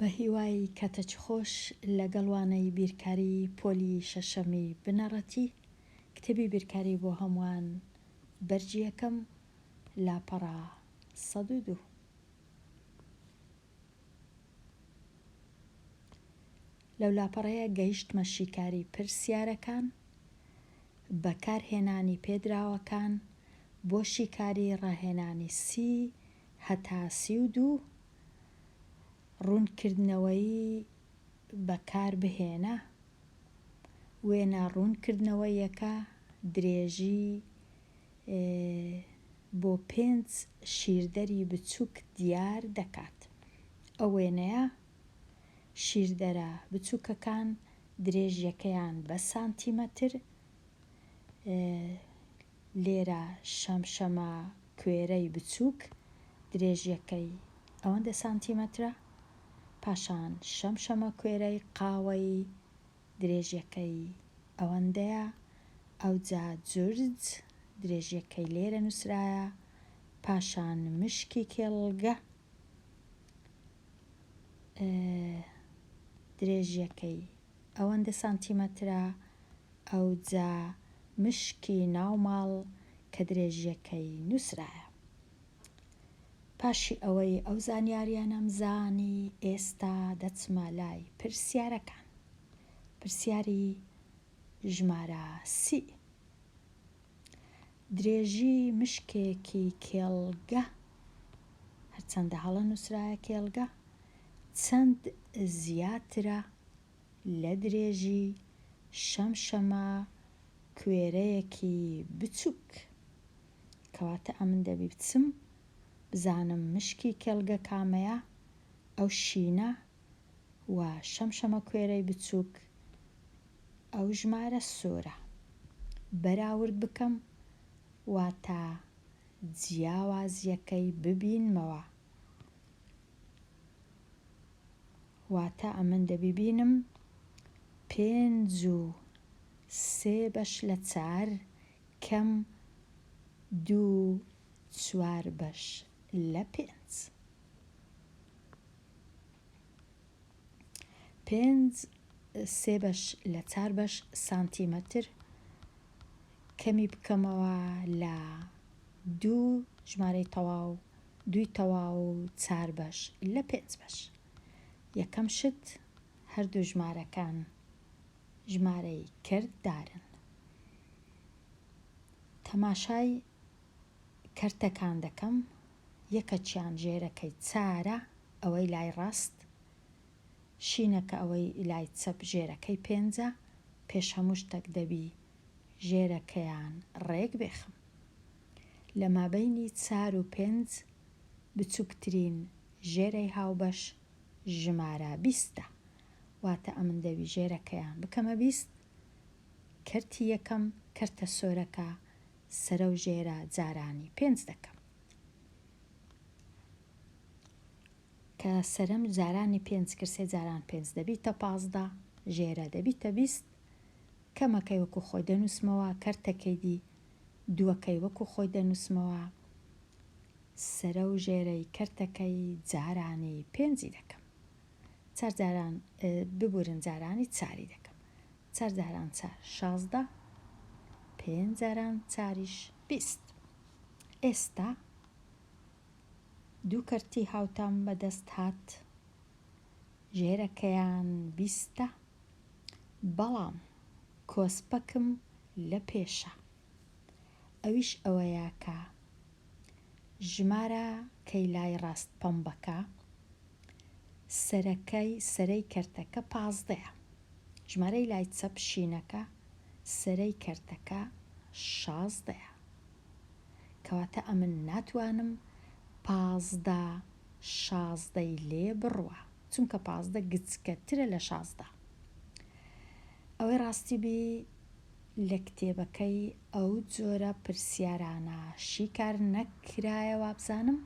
بەهیوای کاتەچ خۆش لەگەڵ وانەی بیرکاری پۆلی شەشەمی بنەڕەتی کتێبی بیرکاری بۆ هەمووان بەرگی یەکەم لاپەڕە سەد و دوو. لەو لاپەڕەیە گەیشتمە شیکاری پرسیارەکان، بەکارهێنانی پێدراوەکان بۆ شیکاری ڕاهێنانی سی هەتا سی و دوو، ڕوونکردنەوەی بەکاربهێنە، وێنە ڕوونکردنەوەیەکە، درێژی بۆ پێنج شیردەری بچووک دیار دەکات. ئەو وێنەیە، شیردەرە بچووکەکان درێژیەکەیان بە سانتیمەتر، لێرە شەمشەمە کوێرەی بچووک درێژیەکەی ئەوەندە سانتیمەترە، پاشان شەمشەمە کوێرەی قاوەیی درێژیەکەی ئەوەندەیە، ئەوجا جورج درێژیەکەی لێرە نوسرایە، پاشان مشکی کێڵگە درێژیەکەی ئەوەندە سانتیمەترە، ئەوجا مشکی ناو ماڵ کە درێژیەکەی نوسرایە. پاشی ئەوەی ئەو زانیاریانەم زانی ئێستا دەچمە لای پرسیارەکان پرسیاری ژمارە سی درێژی مشکێکی کێڵگە هەرچەندە هەڵە نووسراە کێڵگە چەند زیاترە لە درێژی شەمشەمە کوێرەیەکی بچووک. کەواتە ئەمن دەبی بچم بزانم مشکی کێڵگە کامەیە، ئەو شینە و شەمشەمەکوێرەی بچووک ئەو ژمارە سۆرە، بەراورد بکەم واتە جیاوازییەکەی ببینمەوە. واتە ئەمن دەبی بینم پێنج و سێ بەش لە چار کەم دوو چوار بەش لە پێنج. پێنج سێ بەش لە چار بەش سانتیمەتر کەمی بکەمەوە لە دوو ژمارەی تەواو دووی تەواو چار بەش لە پێنج بەش یەکەم شت هەردوو ژمارەکان ژمارەی کەرت دارن. تەماشای کەرتەکان دەکەم یەکەکیان ژێرەکەی چارە ئەوەی لای ڕاست شینەکە ئەوەی لای چەپ ژێرەکەی پێنجە پێش هەموو شتەک دەبی ژێرەکەیان ڕێک بێخم لە مابەینی چار و پێنج بچوکترین ژێرەی هاوبەش ژمارە بیستە واتە ئەمن دەوی ژێرەکەیان بکەمە بیست کەرتی یەکەم کەرتە سۆرەکە سەرەو ژێرە جارانی پێنج دەکەم کە سەرم جارانی پێنج کرسێ جاران پێنج دەبیتە پازدە ژێرە دەبیتە بیست کەمەکەی وەکو خۆی دەنووسمەوە کەرتەکەی دی دووەکەی وەکو خۆی دەنووسمەوە سەرە و ژێرەی کەرتەکەی جارانی پێنجی دەکەم چار جاران ببورن جارانی چاری دەکەم چار جاران چار شازدە پێنج جاران چاریش بیست ئێستا دوو کەرتی هاوتام بەدەست هات ژێرەکەیان بیستە بەڵام کۆسپەکم لە پێشە ئەویش ئەوەیە کە ژمارە کەی لای ڕاست پەمبەکە سەرەکەی سەرەی کەرتەکە پازدەیە ژمارەی لای چەپ شینەکە سەرەی کەرتەکە شازدەیە کەواتە ئەمن ناتوانم پازدە شازدەی لێ بڕوە چونکە پازدە گچکەترە لە شازدە ئەوەی ڕاستی بی لە کتێبەکەی ئەو جۆرە پرسیارانە شیکار نەکرایە وابزانم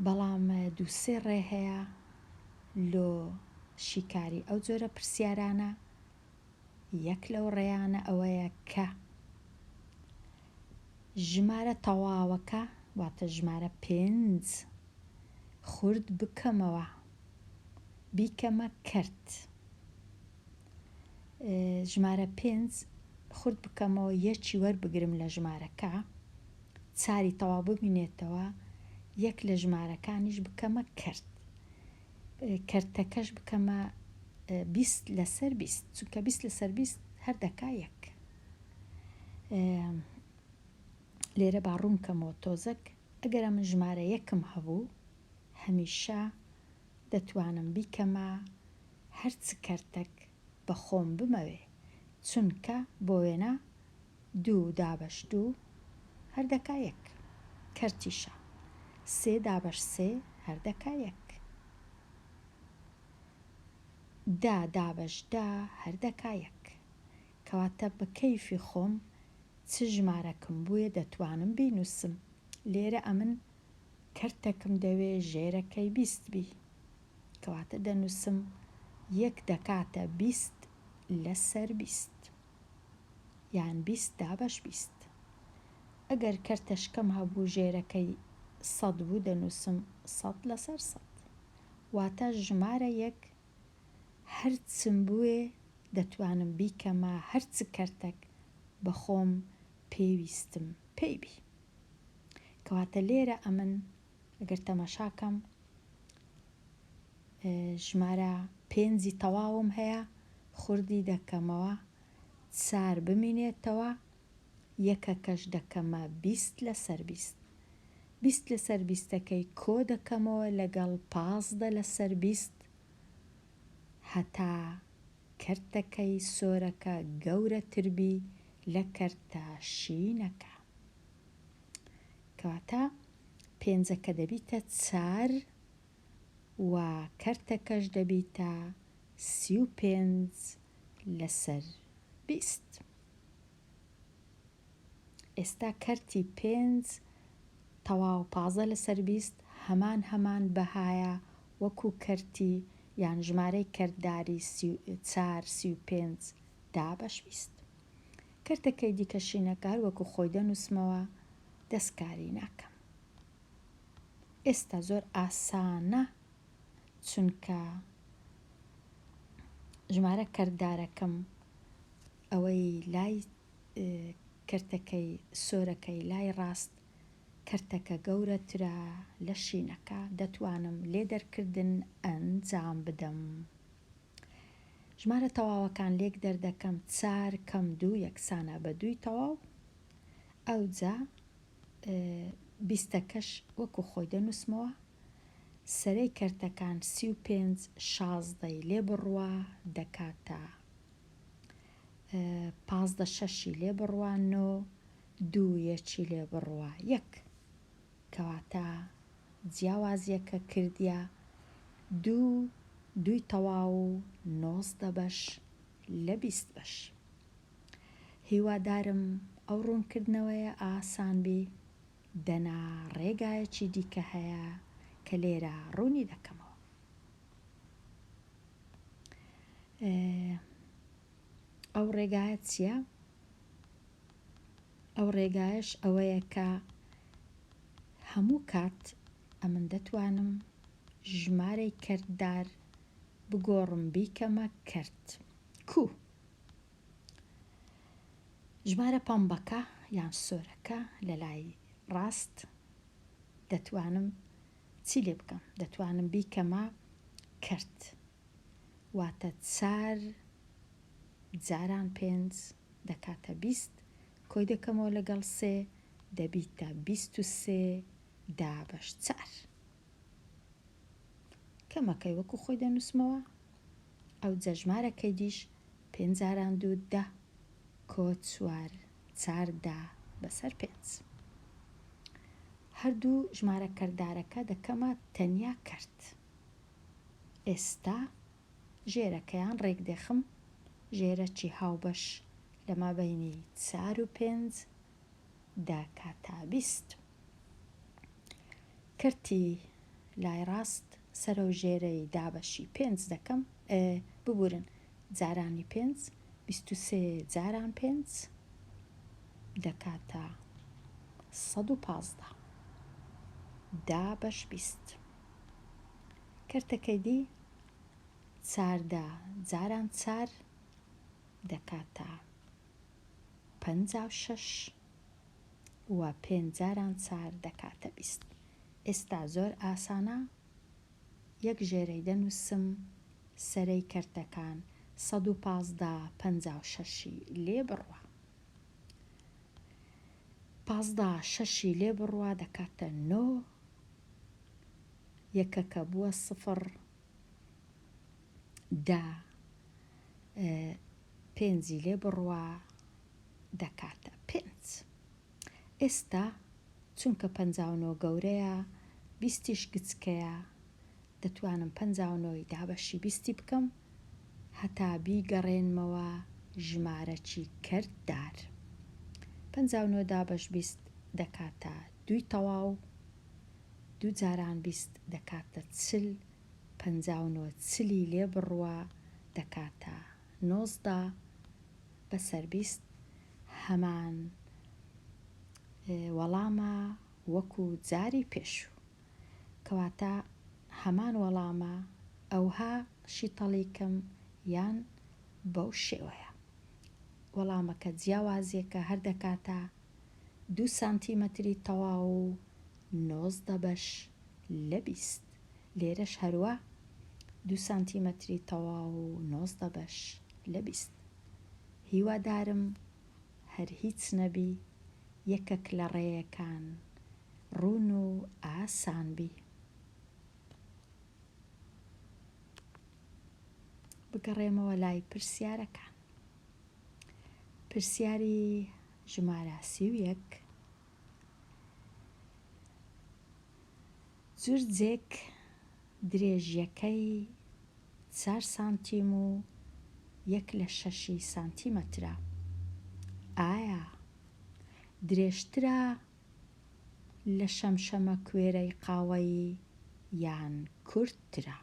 بەڵام دوو سێ ڕێ هەیە لۆ شیکاری ئەو جۆرە پرسیارانە یەک لەو ڕێیانە ئەوەیە کە ژمارە تەواوەکە واتە ژمارە پێنج خورد بکەمەوە بیکەمە کەرت ژمارە پێنج خورد بکەمەوە یەکی وەربگرم لە ژمارە کە چاری تەواو ببینێتەوە یەک لە ژمارەکانیش بکەمە کرد کەرتەکەش بکەمە بیست لەسەر بیست چونکە بیست لەسەر بیست هەر دەکا یەک لێرە با ڕوونکەمەوە تۆزەک ئەگەر من ژمارە یەکم هەبوو هەمیشە دەتوانم بیکەمە هەر چ کەرتەک بە خۆم بمەوێ چونکە بۆ وێنە دوو دابەش دوو هەر دەکا یەک کەرتیشە سێ دابەش سێ هەر دەکا یەک دە دابەش دە هەر دەکا یەک کەواتە بە کەیفی خۆم چ ژمارەکم بوێ دەتوانم بینووسم لێرە ئەمن کەرتەکم دەوێ ژێرەکەی بیست بی کەواتە دەنووسم یەک دەکاتە بیست لەسەر بیست یان بیست دابەش بیست ئەگەر کەرتەشکەم هەبوو ژێرەکەی سەد بوو دەنووسم سەد لەسەر سەد واتە ژمارە یەک هەرچم بوێ دەتوانم بیکەمە هەرچ کەرتەک بەخۆم پێویستم پێی بی کەواتە لێرە ئەمن ئەگەر تەماشاکەم ژمارە پێنجی تەواوم هەیە خوردی دەکەمەوە چار بمینێتەوە یەکەکەش دەکەمە بیست لەسەر بیست بیست لەسەر بیستەکەی کۆ دەکەمەوە لەگەڵ پازدە لەسەر بیست هەتا کەرتەکەی سۆرەکە گەورەتربی لە کەرتە شینەکە کەواتە پێنجەکە دەبیتە چار و کەرتەکەش دەبیتە سی و پێنج لەسەر بیست. ئێستا کەرتی پێنج تەواو پازدە لەسەر بیست هەمان هەمان بەهایە وەکو کەرتی یان ژمارەی کەرتداری سی و چار سی و پێنج دابەش بیست کەرتەکەی دیکە شینەکە هەر وەکو خۆی دەنووسمەوە دەستکاری ناکەم ئێستا زۆر ئاسانە چونکە ژمارە کەردارەکەم ئەوەی لای کەرتەکەی سۆرەکەی لای ڕاست کەرتەکە گەورەترە لە شینەکە دەتوانم لێ دەرکردن ئەنجام بدەم ژمارە تەواوەکان لێک دەردەکەم چار کەم دوو یەکسانە بە دووی تەواو ئەوجا بیستەکەش وەکو خۆی دەنووسمەوە سەرەی کەرتەکان سی و پێنج شازدەی لێ بڕوا دەکاتە پازدە شەشی لێ بڕوا نۆ دوو یەکی لێ بڕوا یەک کەواتە جیاوازیەکە کردیە دوو دووی تەواو و نۆزدە بەش لە بیست بەش هیوادارم ئەو ڕوونکردنەوەیە ئاسان بی. دەنا ڕێگایەکی دیکە هەیە کە لێرە ڕوونی دەکەمەوە. ئەو ڕێگایە چییە؟ ئەو ڕێگایش ئەوەیە کە هەموو کات ئەمن دەتوانم ژمارەی کردار بگۆڕم بیکەمە کرد کو ژمارە پەمبەکە یان سۆرەکە لە لای ڕاست دەتوانم چی لێ بکەم؟ دەتوانم بیکەمە کەرت واتە چار جاران پێنج دەکاتە بیست کۆی دەکەمەوە لەگەڵ سێ دەبیتە بیست و سێ دابەش چار کەمەکەی وەکو خۆی دەنووسمەوە، ئەوجە ژمارە کەیدیش پێنج جاران دوو دە کۆ چوار چار دە بەسەر پێنج. هەردوو ژمارە کەردارەکە دەکەمە تەنیا کەرت. ئێستا ژێرەکەیان ڕێکدێخم، ژێرەکی هاوبەش لە مابەینی چار و پێنج داکاتابیست. کەرتی لای ڕاست سەرەو ژێرەی دابەشی پێنج دەکەم ئێ ببورن جارانی پێنج بیست و سێ جاران پێنج دەکاتە سەد و پازدە دابەش بیست کەرتەکەی دی چاردە جاران چار دەکاتە پەنجا و شەش و پێنج جاران چار دەکاتە بیست. ئێستا زۆر ئاسانە یەک ژێرەی دەنووسم سەرەی کەرتەکان سەد و پازدە پەنجا و شەشی لێ بڕوا. پازدە شەشی لێ بڕوا دەکاتە نۆ یەکەکە بووە سفڕ دە پێنجی لێ بڕوا دەکاتە پێنج. ئێستا چونکە پەنجا و نۆ گەورەیە، بیستیش گچکەیە، دەتوانم پەنجا و نۆی دابەشی بیستی بکەم هەتا بیگەڕێنمەوە ژمارەکی کەرتدار. پەنجا و نۆ دابەش بیست دەکاتە دووی تەواو، دوو جاران بیست دەکاتە چل پەنجا و نۆ چلی لێ بڕوا دەکاتە نۆزدە بەسەر بیست هەمان وەڵامە وەکو جاری پێشوو کەواتە هەمان وەڵامە ئەوها شیتەڵیکم یان بەو شێوەیە وەڵامەکە جیاوازیەکە هەر دەکاتە دوو سانتیمەتری تەواو و نۆزدە بەش لە بیست. لێرەش هەروا دوو سانتیمەتری تەواو و نۆزدە بەش لە بیست. هیوادارم هەر هیچ نەبی یەکەک لە ڕێیەکان ڕوون و ئاسان بی. بگەڕێمەوە لای پرسیارەکان. پرسیاری ژمارە سی و یەک جرجێک درێژیەکەی چار سانتیم و یەک لە شەشی سانتیمەترە ئایا درێژترە لە شەمشەمەکوێرەی قاوەیی یان کورتترە؟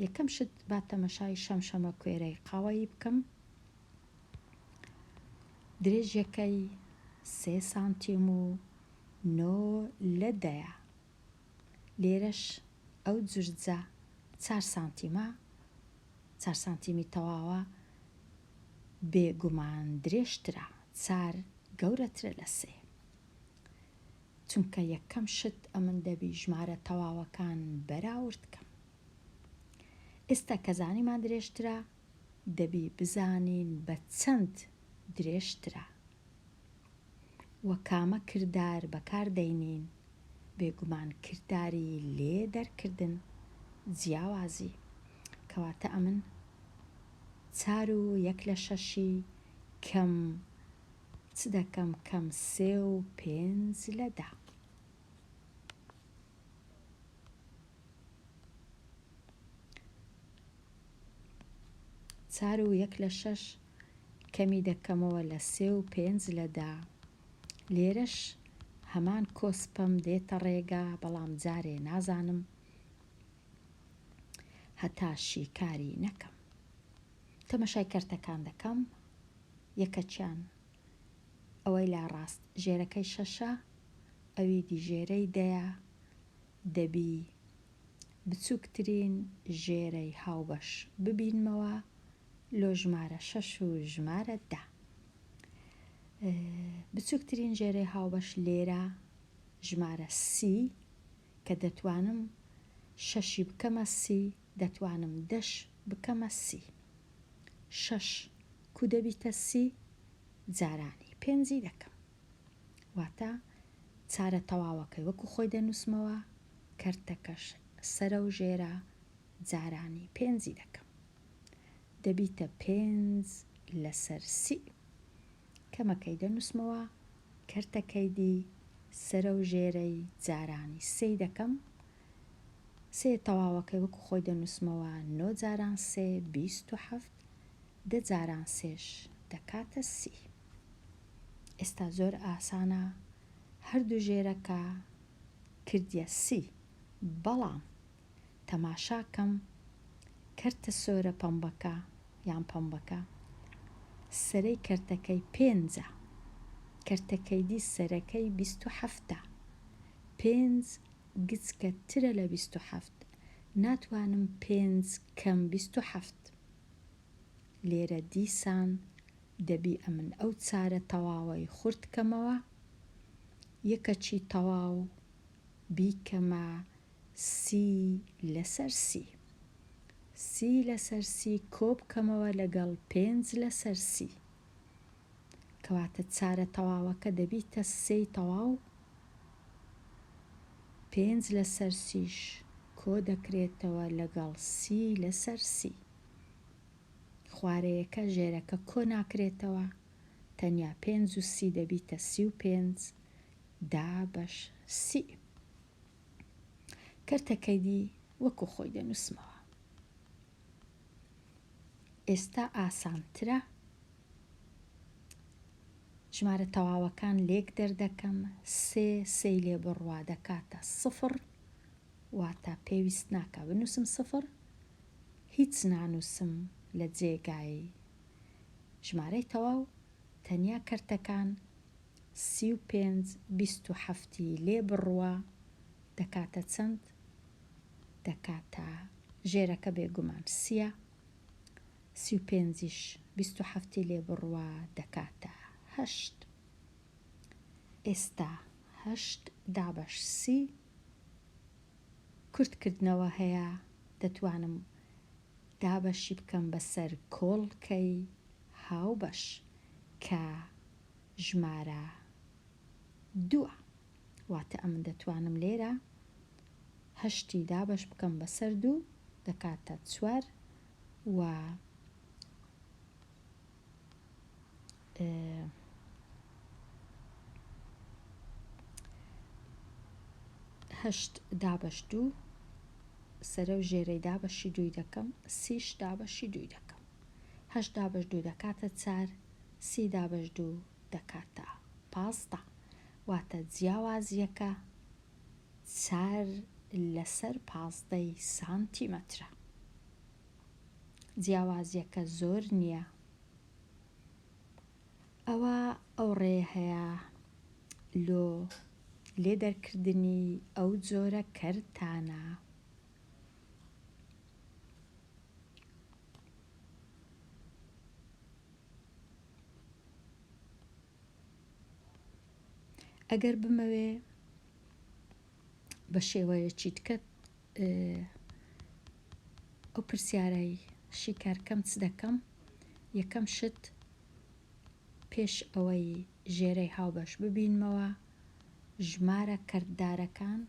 یەکەم شت با تەمەشای شەمشەمەکوێرەی قاوەیی بکەم. درێژیەکەی سێ سانتیم و نۆ لە دەیە لێرەش ئەو جرجە چار سانتیمە چار سانتیمی تەواوە بێگومان درێژترە چار گەورەترە لە سێ چونکە یەکەم شت ئەمن دەبی ژمارە تەواوەکان بەراورد کەم ئێستا کە زانیمان درێژترە دەبی بزانین بە چەند درێژترە و کامە کردار بەکار دەینین، بێگومان کرداری لێ دەرکردن جیاوازی کەواتە ئەمن چار و یەک لە شەشی کەم چ دەکەم کەم سێ و پێنج لە دە. چار و یەک لە شەش کەمی دەکەمەوە لە سێ و پێنج لە دە لێرەش هەمان کۆسپم دێتە ڕێگا بەڵام جارێ نازانم هەتا شیکاری نەکەم تەمەشای کەرتەکان دەکەم یەکەچیان ئەوەی لا ڕاست ژێرەکەی شەشە ئەوی دیژێرەی دەیە دەبی بچووکترین ژێرەی هاوبەش ببینمەوە لۆ ژمارە شەش و ژمارە دە بچووکترین ژێرەی هاوبەش لێرە ژمارە سی کە دەتوانم شەشی بکەمە سی دەتوانم دەش بکەمە سی شەش کو دەبیتە سی جارانی پێنجی دەکەم واتە چارە تەواوەکەی وەکو خۆی دەنووسمەوە، کەرتەکەش سەرە و ژێرە، جارانی پێنجی دەکەم. دەبیتە پێنج لەسەر سی. کەمەکەی دەنووسمەوە، کەرتەکەیدی سەرە و ژێرەی، جارانی سێی دەکەم. سێ تەواوەکەی وەکو خۆی دەنووسمەوە، نۆ جاران سێ، بیست و حەفت، دە جاران سێش دەکاتە سی. ئێستا زۆر ئاسانە هەردوو ژێرەکە کردیە سی بەڵام تەماشاکەم کەرتە سۆرە پەمبەکە یان پەمبەکە سەرەی کەرتەکەی پێنجە کەرتەکەیدی سەرەکەی بیست و حەفتە پێنج گچکە ترە لە بیست و حەفت ناتوانم پێنج کەم بیست و حەفت لێرە دیسان دەبی ئەمن ئەو چارە تەواوەی خورت کەمەوە یەکەچی تەواو بیکەمە سی لەسەر سی سی لەسەر سی کۆبکەمەوە لەگەڵ پێنج لەسەر سی کەواتە چارە تەواوەکە دەبیتە سێی تەواو پێنج لەسەر سیش کۆدەکرێتەوە لەگەڵ سی لەسەر سی. خوارەیەکە ژێرەکە کۆ ناکرێتەوە تەنیا پێنج و سی دەبیتە سی و پێنج دا بەش سی کەرتەکەی دی وەکو خۆی دەنووسمەوە ئێستا ئاسانترە ژمارە تەواوەکان لێک دەردەکەم سێ سێی لێ بڕوا دەکاتە سفڕ واتا پێویست ناکا بنووسم سفر هیچ نانووسم لە جێگای ژمارەی تەواو تەنیا کەرتەکان سی و پێنج بیست و حەفت ی لێ بڕوا دەکاتە چەند دەکاتە ژێرەکە بێگومان سیە سی و پێنج یش بیست و حەفت ی لێ بڕوا دەکاتە هەشت ئێستا هەشت دابەش سی کورت کردنەوە هەیە دەتوانم دابەشی بکەم بەسەر کۆڵکەی هاوبەش کە ژمارە دووە واتە ئەمن دەتوانم لێرە هەشتی دابەش بکەم بەسەر دوو دەکاتە چوار و هەشت دابەش دوو سەرە و ژێرەی دابەشی دووی دەکەم سیش دابەشی دووی دەکەم هەشت دابەش دوو دەکاتە چار سی دابەش دوو دەکاتە پازدە واتە جیاوازیەکە چار لەسەر پازدەی سانتیمەترە جیاوازیەکە زۆر نیە ئەوە ئەو ڕێیە هەیە لۆ لێ دەرکردنی ئەو جۆرە کەرتانە. ئەگەر بمەوێ بە شێوەیەکی تکە ئەو پرسیارەی شیکار کەم چ دەکەم یەکەم شت پێش ئەوەی ژێرەی هاوبەش ببینمەوە ژمارە کەرتدارەکان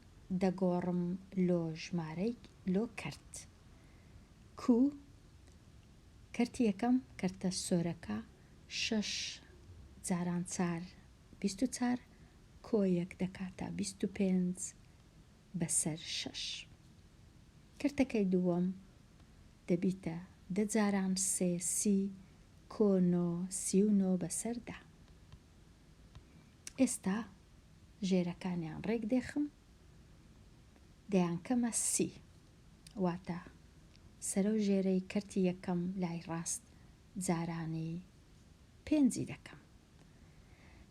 دەگۆڕم لۆ ژمارەی لۆ کەرت کوو کەرتی یەکەم کەرتە سۆرەکە شەش جاران چار بیست و چار کۆ یەک دەکاتە بیست و پێنج بەسەر شەش. کەرتەکەی دووەم دەبیتە دە جاران سێ سی کۆ نۆ سی و نۆ بەسەر دە. ئێستا ژێرەکانیان ڕێک دێخم دەیانکەمە سی واتە سەرەو ژێرەی کەرتی یەکەم لای ڕاست جارانی پێنجی دەکەم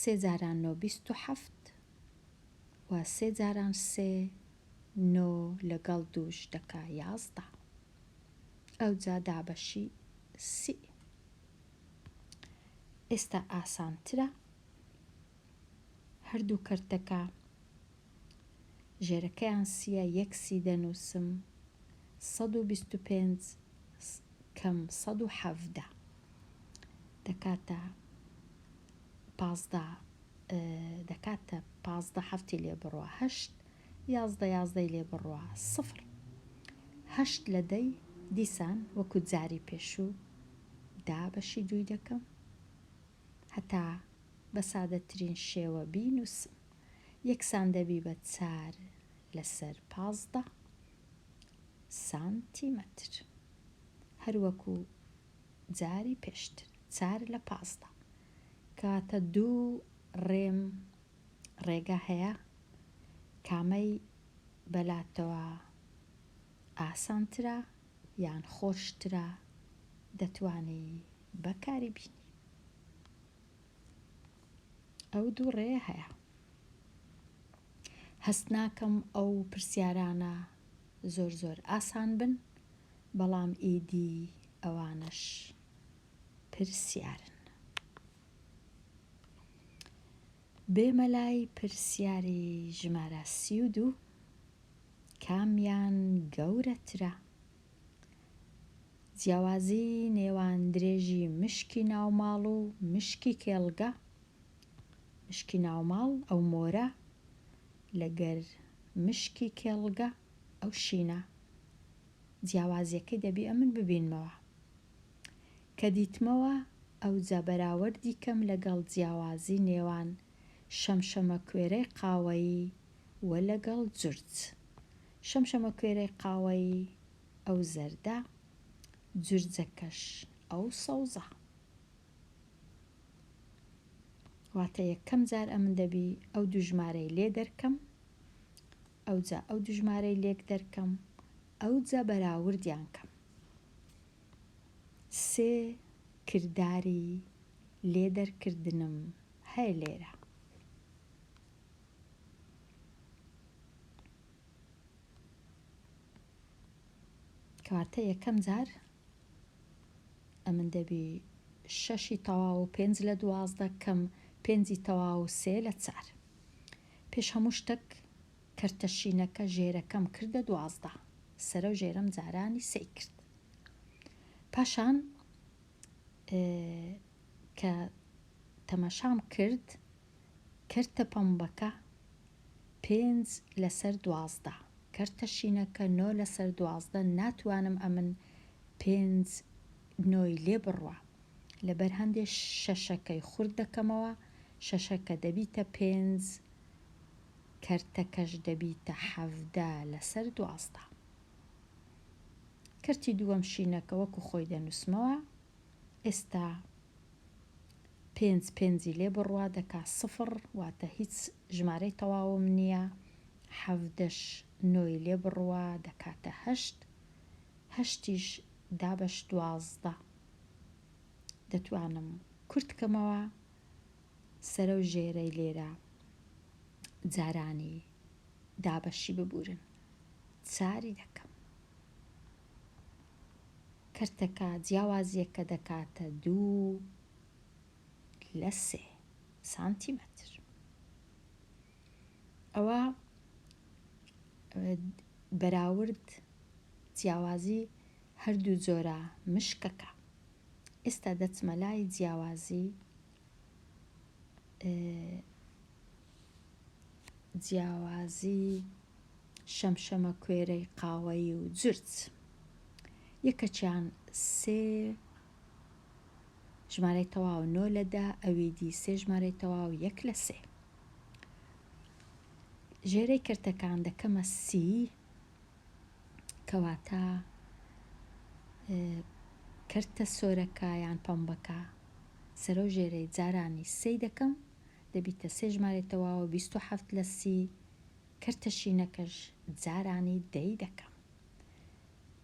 سێ جاران نۆ بیست و حەفت و سێ جاران سێ نۆ لەگەڵ دووش دەکا یازدە ئەوجا دابەشی سی ئێستا ئاسانترە هەردوو کەرتەکە ژێرەکەیان سیە یەک سی دەنووسم سەد و بیست و پێنج کەم سەد و حەڤدە دەکاتە پازدە دەکاتە پازدە هەفتی لێ بڕە هەشت یازدە یازدەی لێ بڕە سفر هەشت لە دەی دیسان وەکو جاری پێشوو دا بەشی دووی دەکەم هەتا بە سادەترین شێوە بینووسم یەکسان دەبی بە چار لەسەر پازدە سانتیمەتر هەروەکو جاری پێشتر چار لە پازدە کەواتە دوو رێم رێگا هەیە کامەی بەلاتەوە ئاسانترە یان خۆشترە دەتوانی بەکاری بینی ئەو دوو رێیە هەیە هەست ناکەم ئەو پرسیارانە زۆر زۆر ئاسان بن بەڵام ئیدی ئەوانەش پرسیارن. بێمە لای پرسیاری ژمارە سی و دوو، کامیان گەورەترە؟ جیاوازی نێوان درێژی مشکی ناوماڵ و مشکی کێڵگە، مشکی ناوماڵ ئەو مۆرە لەگەر مشکی کێڵگە ئەو شینە. جیاوازیەکەی دەبی ئەمن ببینمەوە کە دیتمەوە ئەوجا بەراوەردی کەم لەگەڵ جیاوازی نێوان شەمشەمە کوێرەی قاوەیی وە لەگەڵ جورج شەمشەمە کوێرەی قاوەیی ئەو زەردە جورجەکەش ئەو سەوزە واتە یەکەم جار ئەمن دەبی ئەو دوو ژمارەی لێ دەرکەم ئەوجا ئەو دوو ژمارەی لێک دەرکەم ئەوجا بەراوردیان کەم سێ کرداری لێ دەرکردنم هەیە لێرە. کەواتە یەکەم جار ئەمن دەبی شەشی تەواو و پێنج لە دوازدە کەم پێنجی تەواو و سێ لە چار پێش هەموو شتەک کەرتە شینەکە ژێرەکەم کردە دوازدە سەرە و ژێرەم جارانی سێی کرد پاشان کە تەماشام کرد کەرتە پەمبەکە پێنج لەسەر دوازدە کەرتە شینەکە نۆ لەسەر دوازدە ناتوانم ئەمن پێنج نۆی لێ بڕوا. لەبەر هەندێ شەشەکەی خورد دەکەمەوە، شەشەکە دەبیتە پێنج، کەرتەکەش دەبیتە حەڤدە لەسەر دوازدە. کەرتی دووەم شینەکە وەکو خۆی دەنووسمەوە، ئێستا پێنج پێنجی لێ بڕوا دەکا سفڕ، واتە هیچ ژمارەی تەواوم نییە، حەڤدەش نۆی لێ بڕوا دەکاتە هەشت، هەشتیش دابەش دوازدە دەتوانم کورت کەمەوە سەرەو ژێرەی لێرە جارانی دابەشی ببورن چاری دەکەم کەرتەکە جیاوازیەکە دەکاتە دوو لە سێ سانتیمەتر. ئەوا بەراورد جیاوازی هەردوو جۆرە مشکەکە ئێستا دەچمە لای جیاوازی جیاوازی شەمشەمە کوێرەی قاوەیی و جرج یەکەچیان سێ ژمارەی تەواو نۆ لەدا ئەوی دی سێ ژمارەی تەواو یەک لە سێ ژێرەی کەرتەکان دەکەمە سی کەواتە کەرتە سۆرەکە یان پەمبەکە سەرۆ ژێرەی جارانی سی دەکەم دەبیتە سێ ژمارە تەواوە بیست و حەفت لە سی کەرتە شینەکەش جارانی دەی دەکەم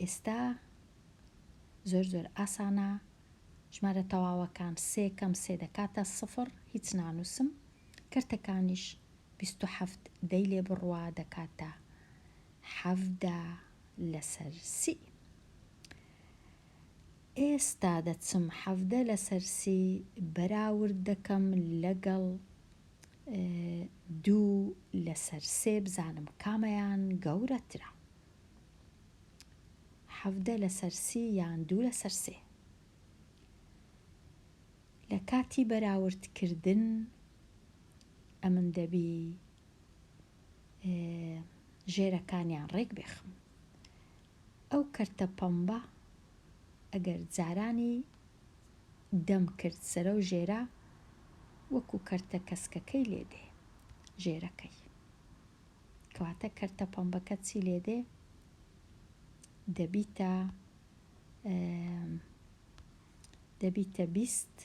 ئێستا زۆر زۆر ئاسانە ژمارە تەواوەکان سێ کەم سێ دەکاتە سفڕ هیچ نانووسم کەرتەکانیش بیست و حەفت دەی لێ بڕوا دەکاتە حەڤدە لەسەر سی ئێستا دەچم حەڤدە لەسەر سی بەراورد دەکەم لەگەڵ دوو لەسەر سێ بزانم کامەیان گەورەترە. حەڤدە لەسەر سی یان دوو لەسەر سێ. لە کاتی بەراورد کردن ئەمن دەبی ژێرەکانیان ڕێک بێخم ئەو کەرتە پەمبە ئەگەر جارانی دەم کرد سەرە و ژێرە وەکو کەرتە کەسکەکەی لێدێ ژێرەکەی کەواتە کەرتە پەمبەکە چی لێ دێ دەبیتە دەبیتە بیست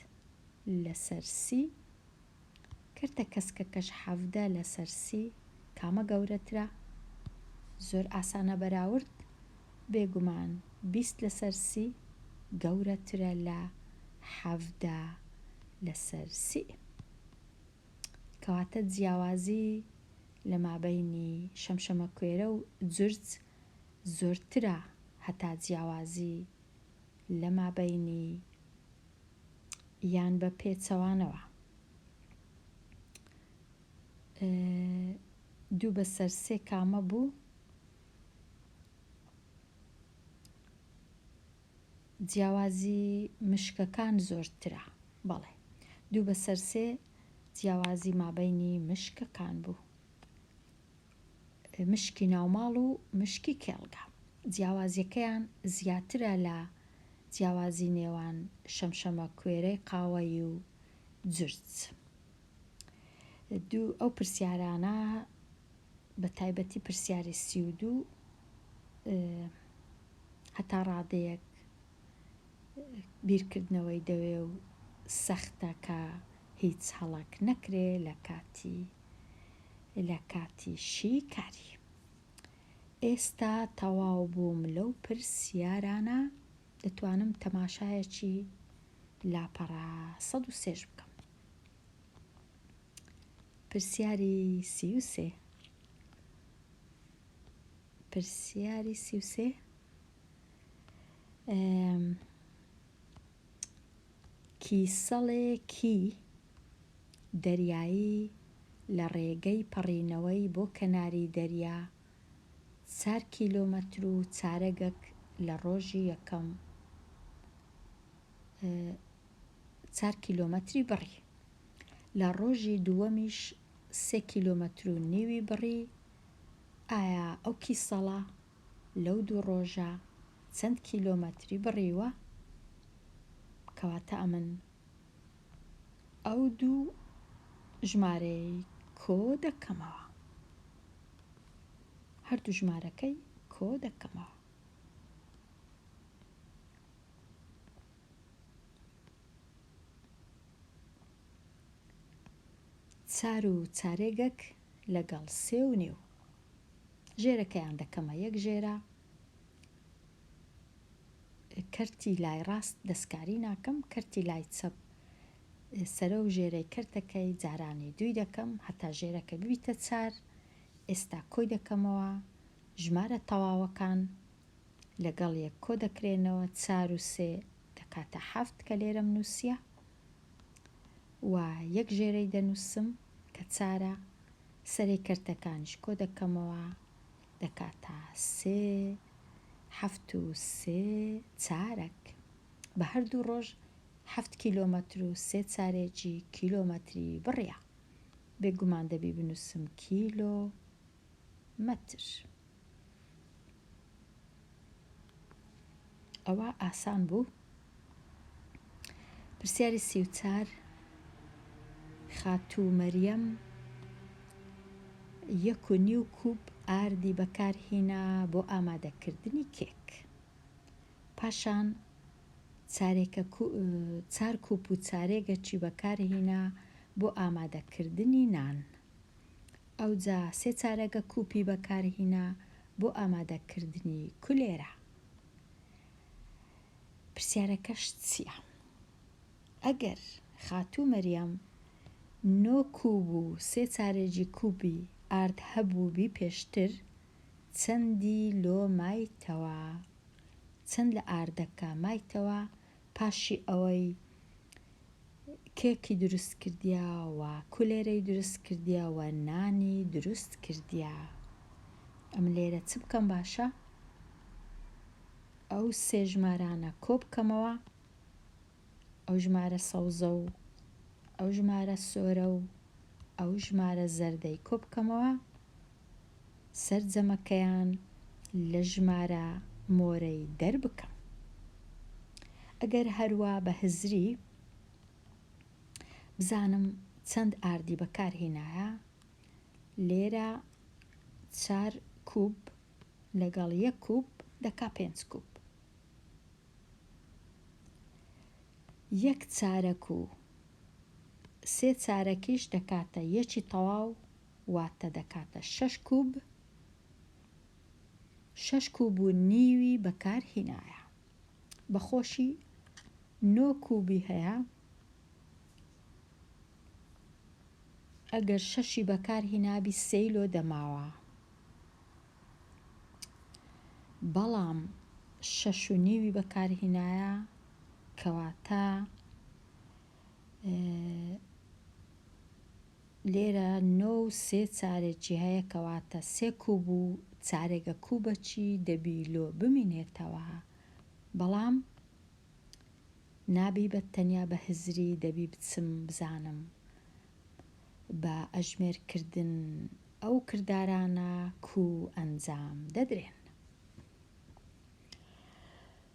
لەسەر سی کەرتە کەسکەکەش حەفدە لەسەر سی کامە گەورەترە زۆر ئاسانە بەراورد بێگومان بیست لەسەر سی گەورەترە لە حەفدە لەسەر سی. کەواتە جیاوازی لە مابەینی شەمشەمەکوێرە و جورج زۆرترە هەتا جیاوازی لە مابەینی یان بە پێچەوانەوە دوو بەسەر سێ کامە بوو جیاوازی مشکەکان زۆرترە. بەڵێ. دوو بەسەر سێ جیاوازی مابەینی مشکەکان بوو. مشکی ناوماڵ و مشکی کێڵگە. جیاوازیەکەیان زیاترە لە جیاوازی نێوان شەمشەمە کوێرەی قاوەیی و جرج. دوو، ئەو پرسیارانە بە تایبەتی پرسیاری سی و دوو هەتا ڕادەیەک بیرکردنەوەی دەوێ و سەختە کە هیچ هەڵەک نەکرێ لە کاتی لە کاتی شی کاری ئێستا تەواو بووم لەو پرسیارانە دەتوانم تەماشایەکی لاپەڕە سەد و سێش بکەم کیسەڵێکی دەریایی لە ڕێگەی پەڕینەوەی بۆ کەناری دەریا چار کیلۆمەتر و چارەگەک لە ڕۆژی یەکەم چار کیلۆمەتری بڕی. لە ڕۆژی دووەمیش سێ کیلۆمەتر و نیوی بڕی، ئایا ئەو کیسەڵە لەو دوو ڕۆژە چەند کیلۆمەتری بڕیوە؟ کەواتە ئەمن ئەو دوو ژمارەی کۆ دەکەمەوە. هەردوو ژمارەکەی کۆ دەکەمەوە. چار و چارێگەک لەگەڵ سێ و نیو. ژێرەکەیان دەکەمە یەک ژێرە. کەرتی لای ڕاست دەستکاری ناکەم کەرتی لای چەپ سەرە و ژێرەی کەرتەکەی جارانی دووی دەکەم هەتا ژێرەکە ببیتە چار ئێستا کۆی دەکەمەوە ژمارە تەواوەکان لەگەڵ یەک کۆ دەکرێنەوە چار و سێ دەکاتە حەفت کە لێرەم نووسیە و یەک ژێرەی دەنووسم کە چارە سەرەی کەرتەکانیش کۆ دەکەمەوە دەکاتە سێ حەفت و سێ چارەک بە هەردوو ڕۆژ حەفت کیلۆمەتر و سێ چارێکی کیلۆمەتری بڕە بێگومان دەبی بنووسم کیلۆ مەتر. ئەوە ئاسان بوو پرسیاری سی و چار خاتوو مەریەم یەک و نیو کوب ئاردی بەکارهینا بۆ ئامادەکردنی کێک پاشان چارێکە چار کوپ و چارێگەچی بەکارهینا بۆ ئامادەکردنی نان. ئەوجا سێ چارەگە کوپی بەکارهینا بۆ ئامادەکردنی کولێرە. پرسیارەکەشت چیە؟ ئەگەر خاتوو مەریەم نۆ کوب و سێ چارەگی کوپی ئارد هەبووبی پێشتر چەندی لۆ مایتەوە؟ چەند لە ئاردەکە مایتەوە پاشی ئەوەی کێکی دروست کردیە و کولێرەی دروست کردیە و نانی دروست کردیە ئەم لێرە چ بکەم باشە ئەو سێ ژمارانە کۆ بکەمەوە ئەو ژمارە سەوزە و ئەو ژمارە سۆرە و ئەو ژمارە زەردەی کۆ بکەمەوە سەرجەمەکەیان لە ژمارە مۆرەی دەربکە. ئەگەر هەروا بە هزری بزانم چەند ئاردی بەکارهینایە، لێرە چار کووب لەگەڵ یەک کووب دەکا پێنج کووب. یەک چارەک و سێ چارەکیش دەکاتە یەکی تەواو واتە دەکاتە شەش کوب شەش کوب و نیوی بەکار هینایە بەخۆشی نۆ کوبی هەیە ئەگەر شەشی بەکار هینابی سێی لۆ دەماوە بەڵام شەش و نیوی بەکار هینایە کەواتە لێرە نۆ و سێ چارێ جیهەیە کەواتە سێ کوب و چارێگە کوبەچی دەبی لۆ بمینێتەوە بەڵام نابی بە تەنیا بە هزری دەبی بچم بزانم بە ئەژمێر کردن ئەو کردارانە کو ئەنجام دەدرێن.